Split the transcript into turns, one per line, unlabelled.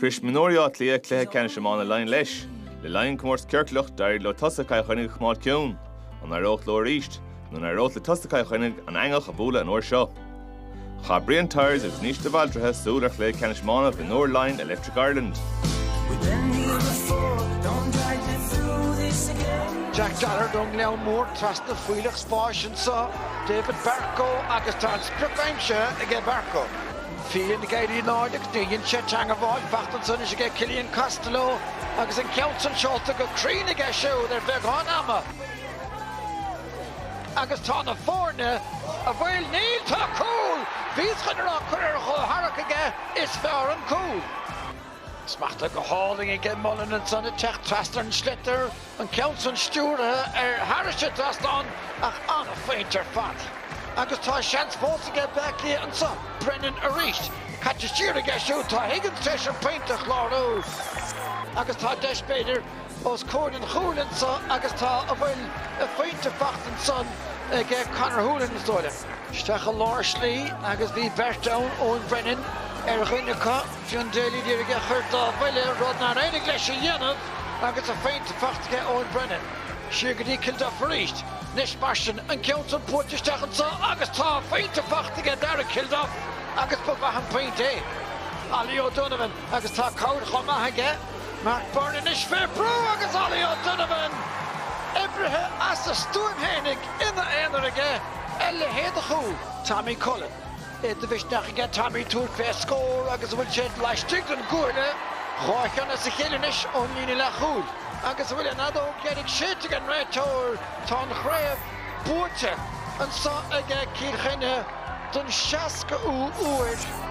Shrois mionúir Átha Cliath cluiche ceannais iomána Laighean leis. Le linn comórtas ciorclach, d'éirigh leo tosaigh Chill Chainnigh a choimeád ciúin. An éireodh leo arís? Nó an éireodh le tosaigh Chill Chainnigh an eangach a bhualadh an uair seo? Chaith Brian Tyers agus Naoise de Bhaldraithe súil ar chluiche ceannais iomána mhionúir Laighean Electric Ireland. Jack Gallagher don Leon Moore trasna fuílleach spáis anseo David Barcoe agus tá an sprioc aimsithe aige Barcoe. File na gealaí in airde agus níor dhein sé teangmháil. Faighte anso anois aige Killian Costello agus an ceann san seolta go cruinn aige siúd ar bheagán ama agus tá na foirne a bhfuil, níl, tá cúl bhíos chun a rá curtha ar a chomhtharrac aige Is fearr an cúl smachta go hálainn aige Mullen ansan ag teacht trasna an tsliotair an ceann san stiúraithe ard thairis an dtrasnán ach ana-phointe ar fad, agus tá seans fós aige Bleá Cliath anso, Brennan arís caite siar aige siúd, tá Higgins tar éis an pointe a chlárú agus tá deis, b'fhéidir, os comhair an chúil anso agus tá a bhfuil a phointe faighte anso aige Conor Holohan, is dóigh liom. Isteach i lár slí agus bhí beirt ann, Eoin Brennan ar dhuine acu, Fionn Daly d'iarraidh é a chur dá bhuille, rud nár éirigh leis a dhéanamh agus a phointe faighte aige Eoin Brennan. Siar go dtí Kilduff arís. Anois mar sin an ceann san buailte isteach anso agus tá a phointe faighte aige Darragh Kilduff agus ba mhaith an pointe é. Ollie O'Donovan agus tá cabhair chomh maith aige Mark Byrne anois fé bhrú agus Ollie O'Donovan oibrithe as a stuaim fhéinig ina aonar aige a leithéid de chúl. Tommy Cullen. é de mhisneach aige Tommy tabhairt fé scór agus a bhfuil sé laistigh den gcuaille, dhá cheann as a chéile anois ón líne leathchúil. Agus a bhfuil an fheadóg dheiridh séidte ag an réiteoir, tá an chraobh buaite anso aige Cill Chainnigh don 60 ú uair.